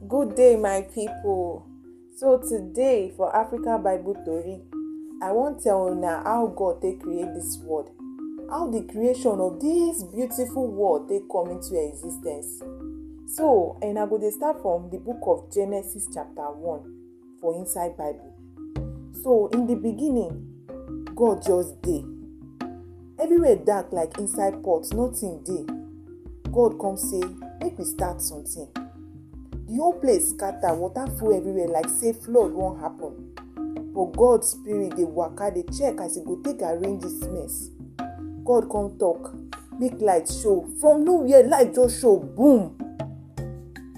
Good day, my people. So today for Africa Bible Tori, I wan tell una how God take create this world, how the creation of this beautiful world take come into existence. So, and I go dey start from the book of Genesis chapter 1. for inside bible so in the beginning god just dey everywhere dark like inside pot nothing dey god come say make we start something the whole place scatter water full everywhere like say flood wan happen but god spirit dey waka dey check as e go take arrange this mess god come talk make light show from nowhere light just show boom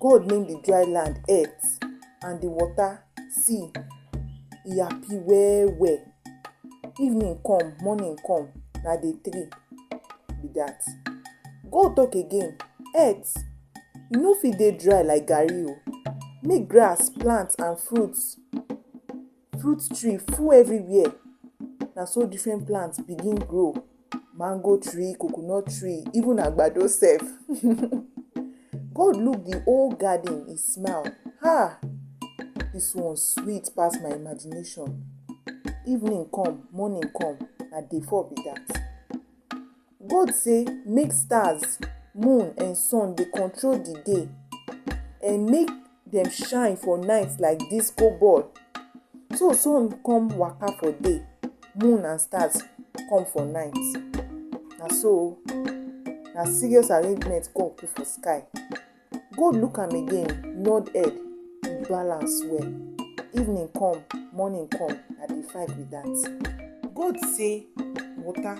God name the dry land earth and the water sea. He happy well well. Evening come, morning come, na day three be that. God talk again, earth, you no fit dey dry like garri o. Make grass, plant and fruits Fruit tree full everywhere, na so different plants begin grow. Mango tree, coconut tree, even agbado sef. God look the whole garden, he smile. Ha! This one sweet pass my imagination. Evening come, morning come, na day four be that. God say make stars, moon and sun dey control the day and make dem shine for night like disco ball. So sun come waka for day, moon and stars come for night. Na so o, na serious arrangement God put for sky. Gold look am again, nod head, e balance well. Evening come, morning come, na di fight be dat. Gold say, Water,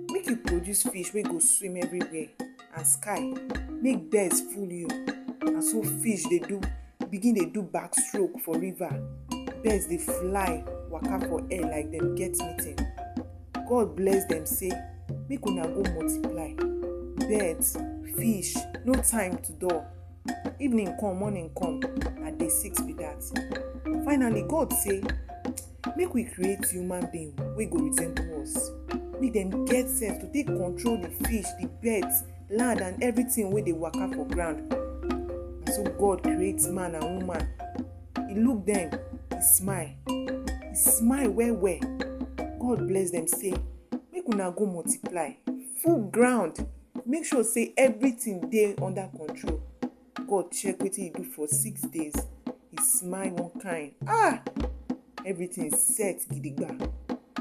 make you produce fish wey go swim everywhere, and sky, make birds full you. Na so fish dey do begin dey do back stroke for river, birds dey fly waka for air like dem get meeting. God bless dem say make una go multiply. Birds, fish, no time to dull. Evening come, morning come, na day six be that. Finally, God say make we create human being wey go resemble us. Make dem get sense to take control the fish, the birds, land and everything wey dey waka for ground. Na so God create man and woman He look them, he smile. He smile well well. God bless them say, make una go multiply. Full ground. Make sure say everything dey under control. God check wetin he do for six days. He smile one kind. Ah! Everything set gidigba.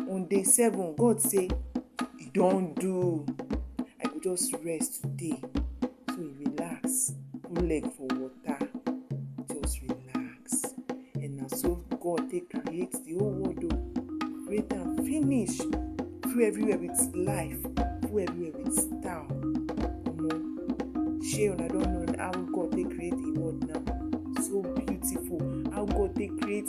On day seven, God say, E don do. I go just rest today. So he relax, put leg for water, just relax. And na so God take create the whole world o. Create am finish. Full everywhere with life, full everywhere with star. Omo, shey una don know how God take create the world now? So beautiful. How God take create